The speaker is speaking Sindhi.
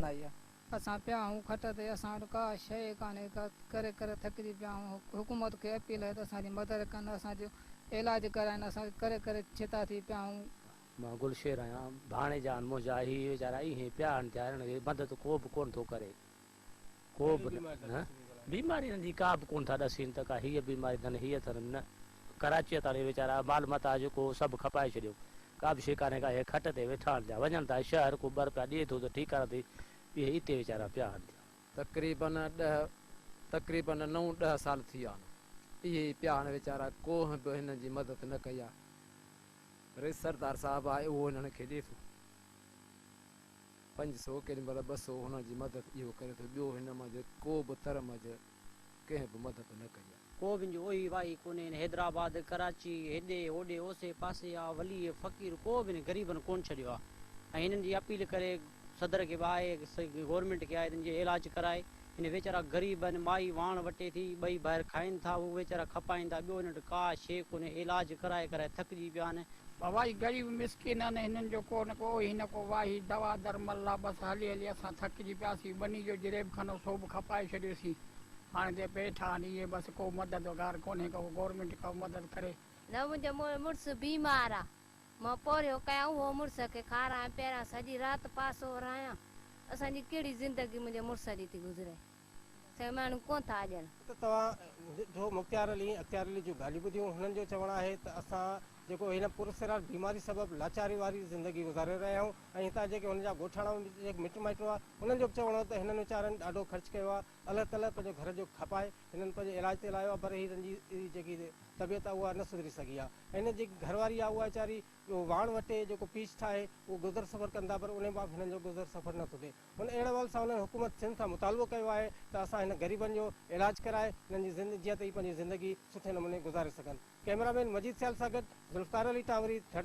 بڻائي آ. اسان پيا آهون کٽ تي اسان وٽ ڪا شيء ڪانهي ڪا ڪري ڪري ٿڪجي پيا آهون حڪومت کي اپيل آهي ته اسان جي مدد ڪن اسان جو علاج ڪرائين اسان ڪري ڪري ڇتا ٿي پيا آهون. مان گل شير آهيان ڀاڻيجا آهن منهنجا هي ويچارا ايئن پيا آهن ڌيارين کي مدد ڪو به ڪونه ٿو ڪري ڪو به نه نه بيماري هنن جي ڪا به ڪون ٿا ڏسين ته ڪا هيء بيماري اٿن هيء اٿن نه ڪراچيء تان هي ويچارا مال متاع جيڪو هو سڀ کپائي ڇڏيو ڪا به شيء ڪانهي ڪا هي کٽ تي ويٺا آهن پيا وڃن ٿا شهر ڪو ٻر پيا ڏي ٿو ته ٺيڪ ڪرڻ ٿي اهي اتي ويچارا پيا آهن پيا. تقريباً ڏهه تقريباً نو ڏهه سال ٿي ويا آهن اهي ئي پيا آهن ويچارا ڪونهن به هنن جي مدد نه ڪئي آهي رئيس سردار صاحب آهي اهو هنن کي ڏي ٿو. پنج سو ڪين بلا ٻه سو هنن جي مدد اهو ڪري ٿو ٻيو هن منجهه ڪو به تر منجهه ڪنهن به مدد نه ڪئي آهي. ڪو به انجو اوهي واهي ڪونهي ان حيدرآباد ڪراچي هيڏي هوڏي اوسي پاسي آ ولي فقير ڪو به هن غريبن ڪون ڇڏيو آ ۽ هنن جي اپيل ڪري صدر کي به آهي سي گورنمينٽ کي آهي تن جي علاج ڪرائي هن ويچارا غريب آهن، مائي واڻ وٽي ٿي، ٻئي ڀائر کائين ٿا، هو ويچارا کپائين ٿا، ٻيو هنن وٽ ڪا شيء ڪونهي، علاج ڪرائي ڪرائي ٿڪجي پيا آهن. ڀوائي غريب مسڪين آهن، هنن جو ڪو نه ڪو هي نه ڪو واهي، دوا درمل لا بس هلي هلي اسان ٿڪجي پياسين، ٻني جو جريب خانو سو به کپائي ڇڏيوسين، هاڻي تي پيٺ آهن اهي بس ڪو مددگار ڪونهي، ڪو گورنمينٽ ڪو مدد ڪري. نه منهنجو مڙس بيمار آ، مان پورهيو ڪيان اهو مڙس کي کاران پياران سڄي رات پاسو ارايان اسان جي ڪهڙي زندگي منهنجي مڙس جي ٿي گذري سائين ماڻهو ڪونه ٿا اڄڻ. ته توهان جو مختيار علي اختيار علي جون ڳالهيون ٻڌيون هنن جو چوڻ آهي ته اسان جيڪو هن پراسرار بيماري سبب لاچاري واري زندگي گذاري رهيا آهيون ۽ هتان جيڪي هن جا ڳوٺاڻا مٽ مائٽ هئا انهن جو به چوڻ هو ته هنن ويچارن ڏاڍو خرچ ڪيو آهي الله تعاليٰ پنهنجو گهر جو کپائي هنن پنهنجي علاج تي لايو آهي پر هنن جي جيڪي طبيعت آهي اها نه سڌري سگهي آهي ۽ هنن جي جيڪي گهر واري آهي اها ويچاري واڻ وٽي جيڪو پيچ ٺاهي اهو گذر سفر ڪن ٿا پر انهي مان به هنن جو گذر سفر نه ٿو ٿئي ان اهڙي حوالي سان هنن حڪومت سنڌ کان مطالبو ڪيو آهي ته اسان هنن غريبن جو علاج ڪرائي هنن جي زندگي جيئن ته هي پنهنجي زندگي سٺي نموني گذاري سگهن ڪئميرا مين مجيد سيال سان گڏ ذوالفقار علي ٽانوري ڌرتي